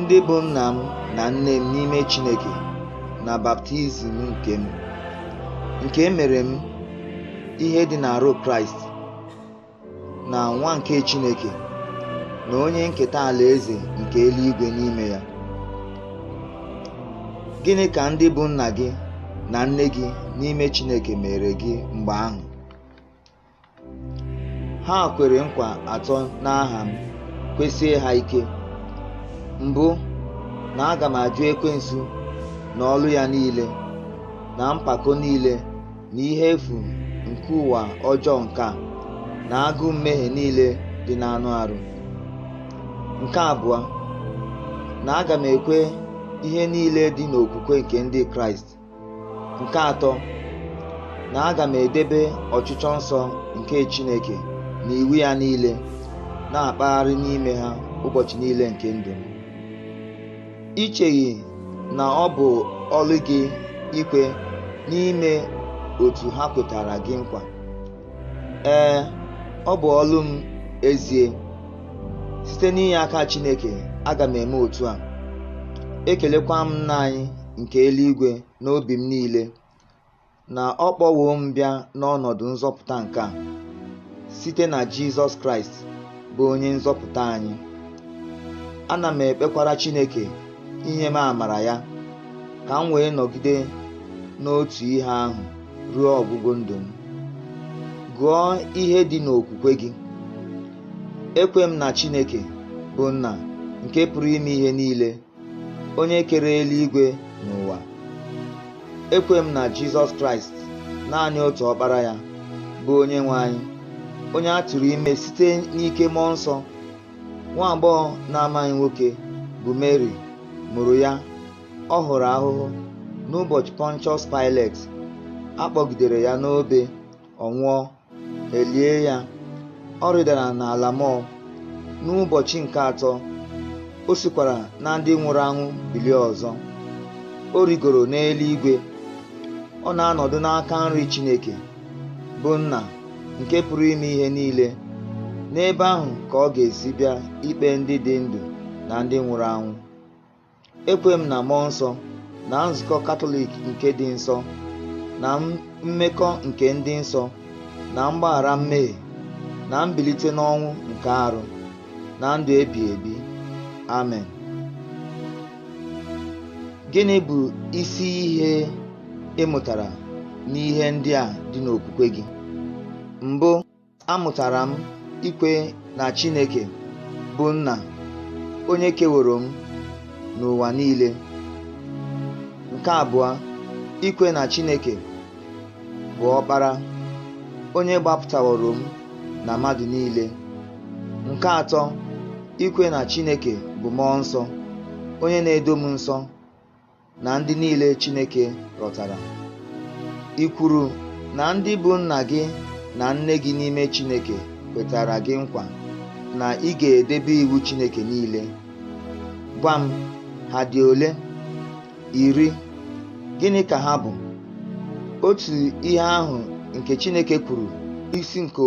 ndị bụ nna m na nne m n'ime Chineke na baptizim nke m nke e mere m ihe dị n'arụ Kraịst na nwa nke Chineke na onye nketa alaeze nke eluigwe n'ime ya gịnị ka ndị bụ nna gị na nne gị n'ime Chineke meere gị mgbe ahụ ha kwere nkwa atọ n'aha m kwesie ha ike mbụ na aga m ajụ ekwensu na ọlụ ya niile na mpako niile na ihe efu nke ụwa ọjọọ nke a na agụụ mmehie niile dị n'anụ arụ nke abụọ na aga m ekwe ihe niile dị n'okwukwe nke ndị kraịst nke atọ na aga m edebe ọchịchọ nsọ nke Chineke na iwu ya niile na-akpagharị n'ime ha ụbọchị niile nke ndụ m i cheghị na ọ bụ ọlụ gị ikwe na ime otu ha kwetara gị nkwa ee ọ bụ ọlụ m ezie site n'inye aka Chineke aga m eme otu a ekelekwa m nna anyị nke eluigwe n'obi m niile na ọ kpọwo m bịa n'ọnọdụ nzọpụta nke a site na Jizọs Kraịst bụ onye nzọpụta anyị ana m ekpekwara Chineke inye m amara ya ka m wee nọgide n'otu ihe ahụ ruo ọgwụgwụ ndụ m gụọ ihe dị n'okwukwe gị ekwe m na Chineke bụ nna nke pụrụ ime ihe niile onye kere eluigwe na ụwa ekwe m na jizọs kraịst naanị otu ọkpara ya bụ onye nwe anyị onye a tụrụ ime site n'ike mmụọ nsọ nwa agbọghọ na-amaghị nwoke bụ Mary mụrụ ya ọ hụrụ ahụhụ n'ụbọchị Pontius Pilate a kpọgidere ya n'obe ọ nwụọ e lie ya ọ rịdara n'ala mmụọ n'ụbọchị nke atọ o sikwara na ndị nwụrụ anwụ bilie ọzọ o rigoro n'eluigwe ọ na-anọdụ n'aka nri Chineke bụ nna nke pụrụ ime ihe niile n'ebe ahụ ka ọ ga-esi bịa ikpe ndị dị ndụ na ndị nwụrụ anwụ ekwe m na mmụọ nsọ na nzukọ katọlik nke dị nsọ na mmekọ nke ndị nsọ na mgbaghara mmehie na mbilite n'ọnwụ nke arụ na ndụ ebi ebi amen gịnị bụ isi ihe ị mụtara n'ihe ndị a dị n'okwukwe gị mbụ amụtara m ikwe na Chineke bụ Nna onye keworo m na ụwa niile. Nke abụọ, ikwe na Chineke bụ Ọkpara onye gbapụtaworo m na mmadụ niile. Nke atọ, ikwe na Chineke bụ Mmụọ Nsọ onye na-edo m nsọ. na ndị niile Chineke rọtara. I kwuru na ndị bụ nna gị na nne gị n'ime Chineke kwetara gị nkwa na ị ga-edebe iwu Chineke niile. Gwa m, ha dị ole? Iri. Gịnị ka ha bụ? Otu ihe ahụ nke Chineke kwuru, isi nke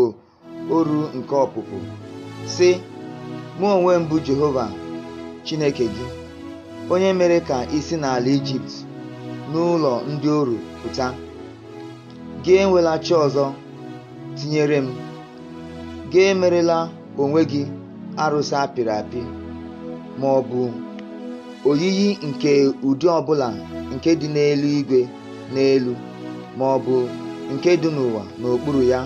oru nke Ọpụpụ sị mụ onwe m bụ Jehova Chineke gị onye mere ka i si n'ala Ijipt n'ụlọ ndị oru pụta gị enwela chi ọzọ tinyere m gị emerela onwe gị arụsị a pịrị apị ma ọ bụ oyiyi nke ụdị ọbụla nke dị n'eluigwe n'elu ma ọ bụ nke dị n'ụwa n'okpuru ya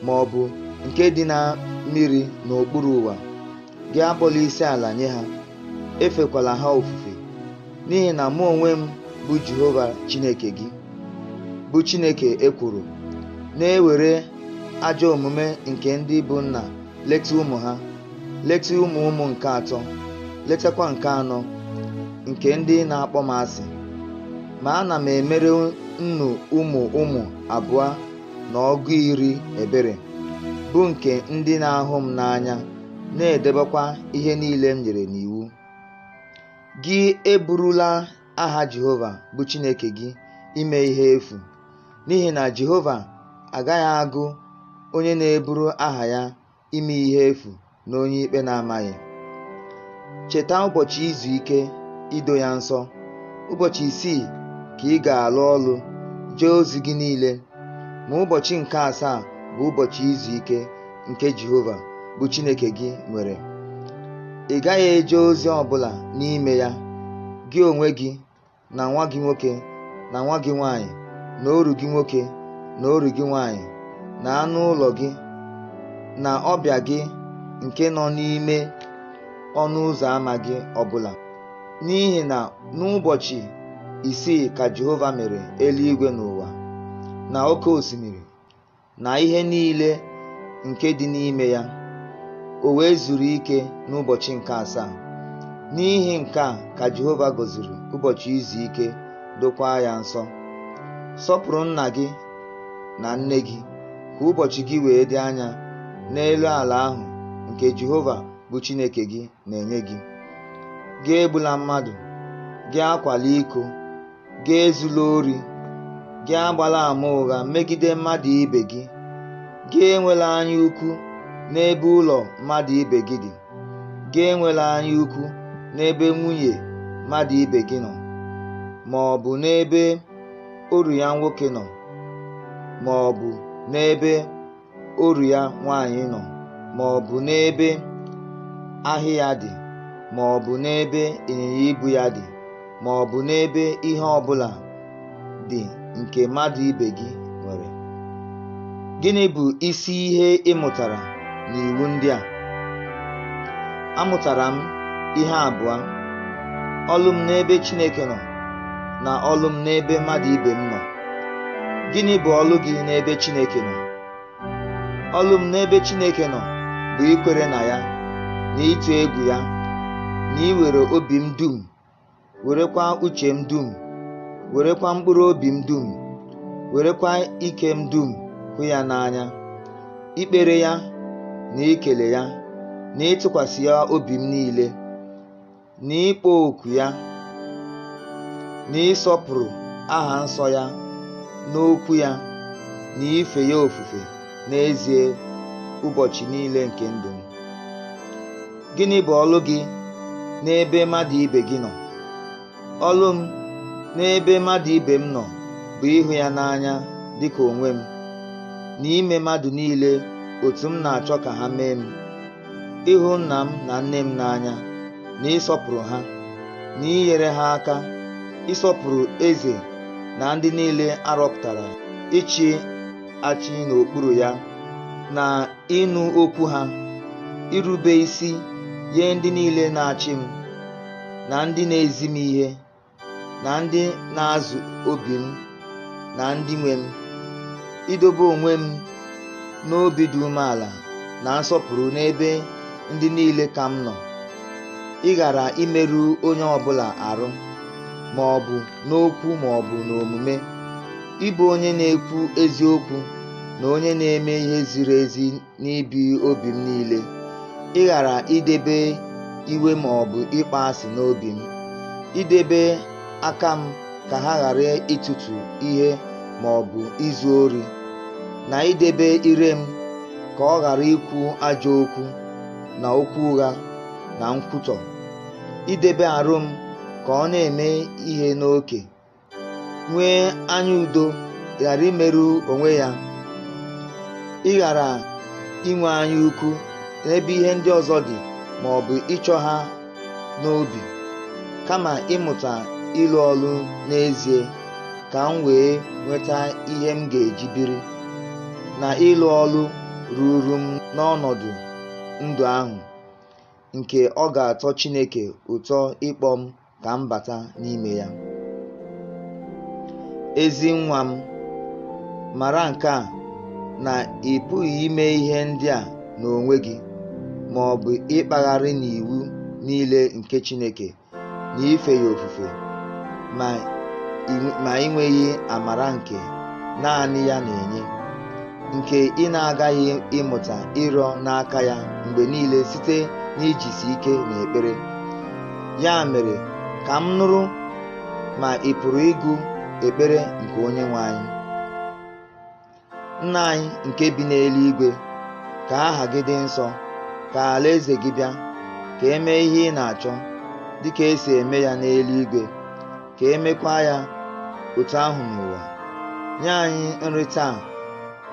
ma ọ bụ nke dị na mmiri n'okpuru ụwa gị akpọla isi ala nye ha efekwala ha ofufe n'ihi na mụ onwe m bụ Jehova Chineke gị bụ Chineke ekworo na-ewere ajọ omume nke ndị bụ nna leta ụmụ ha leta ụmụ ụmụ nke atọ letakwa nke anọ nke ndị na-akpọ m asị ma ana m emere nnụ ụmụ ụmụ abụọ na ọgụ iri ebere bụ nke ndị na-ahụ m n'anya na-edebekwa ihe niile m nyere n'iwu gị eburula aha Jehova bụ Chineke gị ime ihe efu n'ihi na Jehova agaghị agụ onye na-eburu aha ya ime ihe efu na onye ikpe na-amaghị cheta ụbọchị izu ike ido ya nsọ ụbọchị isii ka ị ga-alụ ọlụ jee ozi gị niile ma ụbọchị nke asaa bụ ụbọchị izu ike nke Jehova bụ Chineke gị nwere ị gaghị eje ozi ọbụla n'ime ya gị onwe gị na nwa gị nwoke na nwa gị nwanyị na oru gị nwoke na oru gị nwanyị na anụ ụlọ gị na ọbịa gị nke nọ n'ime ọnụ ụzọ ama gị ọbụla n'ihi na n'ụbọchị isii ka Jehova mere eluigwe na ụwa na oke osimiri na ihe niile nke dị n'ime ya o wee zuru ike n'ụbọchị nke asaa n'ihi nke a ka Jehova gọziri ụbọchị izu ike dokwaa ya nsọ sọpụrụ nna gị na nne gị ka ụbọchị gị wee dị anya n'elu ala ahụ nke Jehova bụ Chineke gị na-enye gị gị egbula mmadụ gị akwala iko gị ezula ori gị agbala ama ụgha megide mmadụ ibe gị gị enwela anya ukwu n'ebe ụlọ mmadụ ibe gị dị gị enwela anya ukwu n'ebe nwunye mmadụ ibe gị nọ ma ọ bụ n'ebe oru ya nwoke nọ ma ọ bụ n'ebe oru ya nwaanyị nọ ma ọ bụ n'ebe ehi ya dị ma ọ bụ n'ebe ịnyịnya ibu ya dị ma ọ bụ n'ebe ihe ọ bụla dị nke mmadụ ibe gị nwere gịnị bụ isi ihe ị mụtara n'iwu ndị a amụtara m ihe abụọ ọlụ m n'ebe Chineke nọ na ọlụ m n'ebe mmadụ ibe m nọ gịnị bụ ọlụ gị n'ebe Chineke nọ ọlụ m n'ebe Chineke nọ bụ ikwere na ya na ịtụ egwu ya na iwere obi m dum werekwa uche m dum werekwa mkpụrụ obi m dum werekwa ike m dum hụ ya n'anya ikpere ya na ikele ya na ịtụkwasị ya obi m niile na ịkpọku ya na ịsọpụrụ aha nsọ ya na okwu ya na ife ya ofufe n'ezie ụbọchị niile nke ndụ m gịnị bụ ọlụ gị n'ebe mmadụ ibe gị nọ ọlụ m n'ebe mmadụ ibe m nọ bụ ịhụ ya n'anya dịka onwe m na ime mmadụ niile otu m na-achọ ka ha mee m ịhụ nna m na nne m n'anya na ịsọpụrụ ha na inyere ha aka ịsọpụrụ eze na ndị niile a rọpụtara ịchị achị n'okpuru ya na ịnụ okwu ha irube isi nye ndị niile na-achị m na ndị na-ezi m ihe na ndị na-azụ obi m na ndị nwe m idobe onwe m n'obi dị umeala na nsọpụrụ n'ebe ndị niile ka m nọ ịghara imerụ onye ọbụla arụ ma ọ bụ n'okwu ma ọ bụ n'omume ịbụ onye na-ekwu eziokwu na onye na-eme ihe ziri ezi n'ibi obi m niile ịghara idebe iwe ma ọ bụ ịkpọ asị n'obi m idebe aka m ka ha ghara ịtụtụ ihe ma ọ bụ izu ori na idebe ire m ka ọ ghara ikwu ajọ okwu na okwu ụgha na nkwutọ idebe arụ m ka ọ na-eme ihe n'oke nwee anya udo ghara imerụ onwe ya ịghara inwe anya ukwu n'ebe ihe ndị ọzọ dị ma ọ bụ ịchọ ha n'obi kama ịmụta ịlụ ọlụ n'ezie ka m wee nweta ihe m ga-eji biri na ịlụ ọlụ ruru m n'ọnọdụ ndụ ahụ nke ọ ga-atọ Chineke ụtọ ịkpọ m ka m bata n'ime ya ezi nwa m mara nke a na ị pụghị ime ihe ndị a n'onwe gị ma ọ bụ ịkpagharị n'iwu niile nke Chineke na ife ya ofufe ma ị nweghị amara nke naanị ya na-enye nke ị na-agaghị ịmụta ịrịọ n'aka ya mgbe niile site n'ijisi ike n'ekpere ya mere ka m nụrụ ma ị pụrụ ịgụ ekpere nke onye nwe anyị nna anyị nke bi n'eluigwe ka aha gị dị nsọ ka alaeze gị bịa ka emee ihe ị na-achọ dịka esi eme ya n'eluigwe ka emekwa ya otu ahụ n'ụwa nye anyị nri taa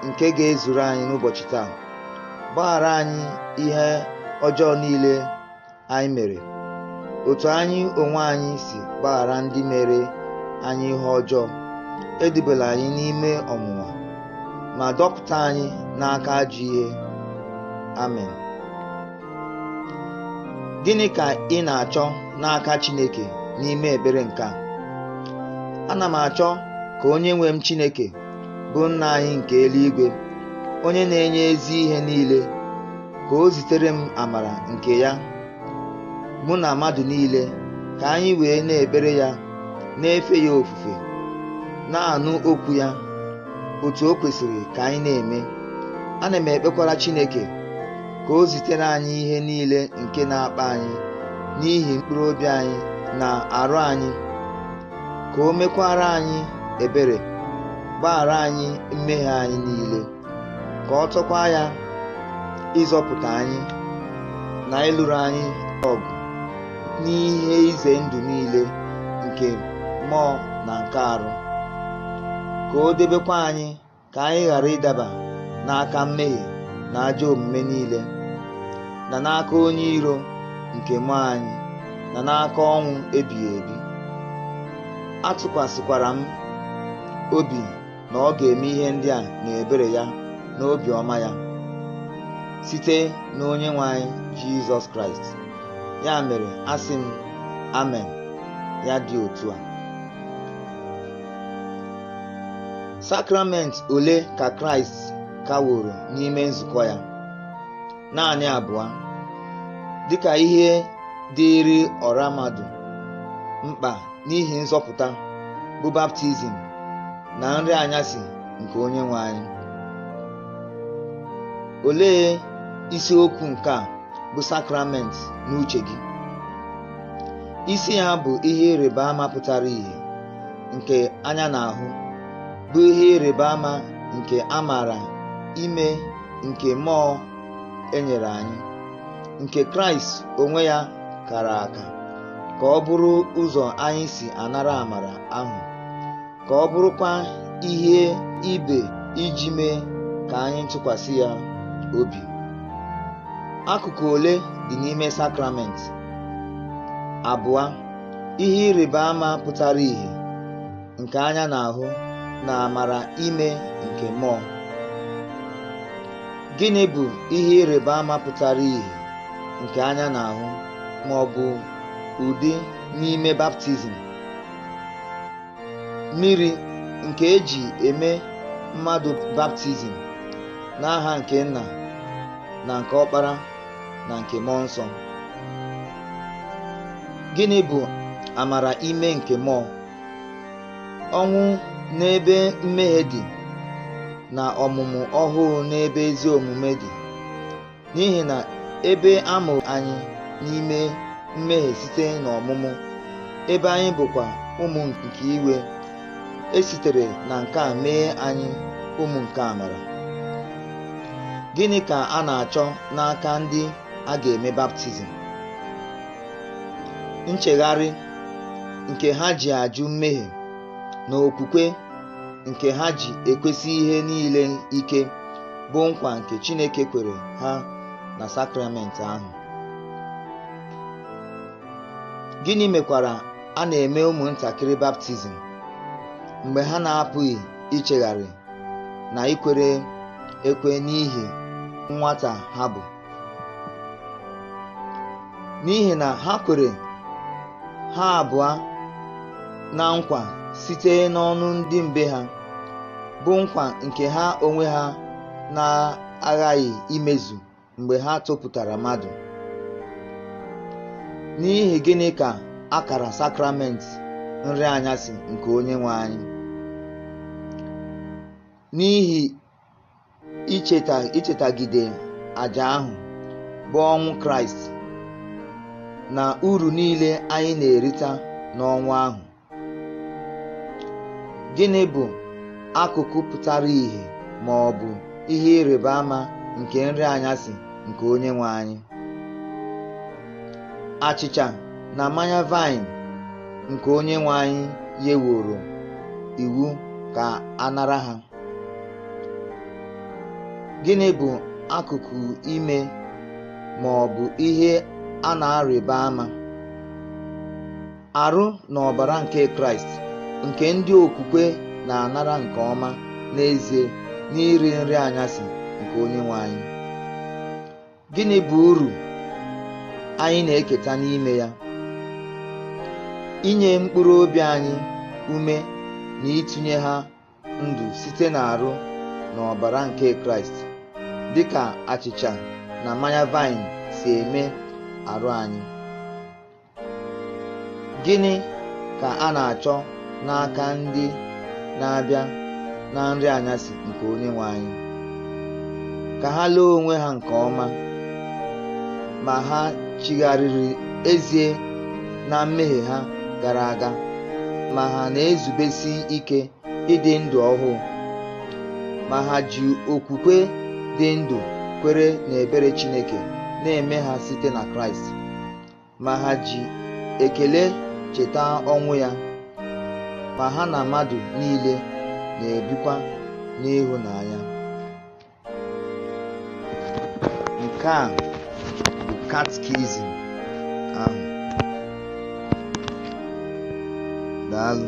nke ga-ezuru anyị n'ụbọchị taa gbaghara anyị ihe ọjọọ niile anyị mere otu anyị onwe anyị si gbaghara ndị mere anyị ihe ọjọọ edubela anyị n'ime ọnwụnwa ma dọpụta anyị n'aka ajọ ihe amen gịnị ka ị na-achọ n'aka Chineke n'ime ekpere nke a ana m achọ ka onye nwe m Chineke bụ nna anyị nke eluigwe onye na-enye ezi ihe niile ka o zitere m amara nke ya mụ na mmadụ niile ka anyị wee na-ekpere ya na-efe ya ofufe na-anụ okwu ya otu o kwesịrị ka anyị na-eme ana m ekpekwara Chineke ka o zitere anyị ihe niile nke na-akpa anyị n'ihi mkpụrụ obi anyị na arụ anyị ka o mekwara anyị ebere gbaghara anyị mmehie anyị niile ka ọ tọkwa ya ịzọpụta anyị na ịlụrụ anyị ọgụ n'ihe ize ndụ niile nke mmụọ na nke arụ ka o debekwa anyị ka anyị ghara ịdaba n'aka mmehie na ajọ omume niile na n'aka onye iro nke mmụọ anyị na n'aka ọnwụ ebighị ebi atụkwasịkwara m obi na ọ ga-eme ihe ndị a n'ebere ya na obiọma ya site n'onye nwe anyị jizọs kraịst ya mere asị m amen ya dị otu a Sakramenti ole ka Kraịst kaworo n'ime nzukọ ya? Naanị abụọ. Dịka ihe dịịrị ọra mmadụ mkpa n'ihi nzọpụta bụ baptizim na nri anyasị nke onye nwe anyị. Olee isiokwu nke a bụ sakramenti n'uche gị? Isi ya bụ ihe ịrịba ama pụtara ìhè. nke anya na-ahụ bụ ihe ịrịba ama nke amara ime nke mmụọ e nyere anyị nke kraịst onwe ya kara aka ka ọ bụrụ ụzọ anyị si anara amara ahụ ka ọ bụrụkwa ihe ibe iji mee ka anyị tụkwasị ya obi akụkụ ole dị n'ime sakramenti abụọ ihe ịrịba ama pụtara ìhè nke anya na-ahụ na amara ime nke mmụọ. Gịnị bụ ihe ịrịba ama pụtara ìhè nke anya na-ahụ ma ọ bụ ụdị n'ime baptizim? Mmiri nke e ji eme mmadụ baptizim n'aha nke Nna na nke Ọkpara na nke mmụọ nsọ gịnị bụ amara ime nke mmụọ ọnwụ n'ebe mmehie dị na ọmụmụ ọhụụ n'ebe ezi omume dị n'ihi na ebe a mụrụ anyị n'ime mmehie site n'ọmụmụ ebe anyị bụkwa ụmụ nke iwe e sitere na nke a mee anyị ụmụ nke amara gịnị ka a na-achọ n'aka ndị a ga-eme baptizim nchegharị nke ha ji ajụ mmehie na okwukwe nke ha ji ekwesi ihe niile ike bụ nkwa nke Chineke kwere ha na sakramenti ahụ gịnị mekwara a na-eme ụmụntakịrị baptizim mgbe ha na-apụghị ichegharị na ikwere ekwe n'ihi nwata ha bụ n'ihi na ha kwere ha abụọ na nkwa site n'ọnụ ndị mbe ha bụ nkwa nke ha onwe ha na-aghaghị imezu mgbe ha topụtara mmadụ n'ihi gịnị ka a kara sakrament nri anyasị nke onye nwe anyị n'ihi ichetagide aja ahụ bụ ọnwụ kraịst na uru niile anyị na-erita n'ọnwụ ahụ gịnị bụ akụkụ pụtara ìhè ma ọ bụ ihe ịrịba ama nke nri anyasị nke Onyenwe anyị achịcha na mmanya vaịn nke Onyenwe anyị nyeworo iwu ka a nara ha gịnị bụ akụkụ ime ma ọ bụ ihe a na-arịba ama Arụ na ọbara nke Kraịst nke ndị okwukwe na-anara nke ọma n'ezie n'iri nri anyasị nke Onyenwe anyị. Gịnị bụ uru anyị na-eketa n'ime ya? Inye mkpụrụ obi anyị ume na itinye ha ndụ site n'arụ na ọbara nke Kraịst dị ka achịcha na mmanya vaịn si eme arụ anyị. Gịnị ka a na-achọ n'aka ndị na-abịa na nri anyasị nke onye nwe anyị? Ka ha lee onwe ha nke ọma ma ha chigharịrị ezie na mmehie ha gara aga ma ha na-ezubesi ike ịdị ndụ ọhụụ ma ha ji okwukwe dị ndụ kwere n'ebere Chineke na-eme ha site na Kraịst. ma ha ji ekele cheta ọnwụ ya ma ha na mmadụ niile na-ebikwa n'ịhụnanya nke a bụ katkizim ahụ daalụ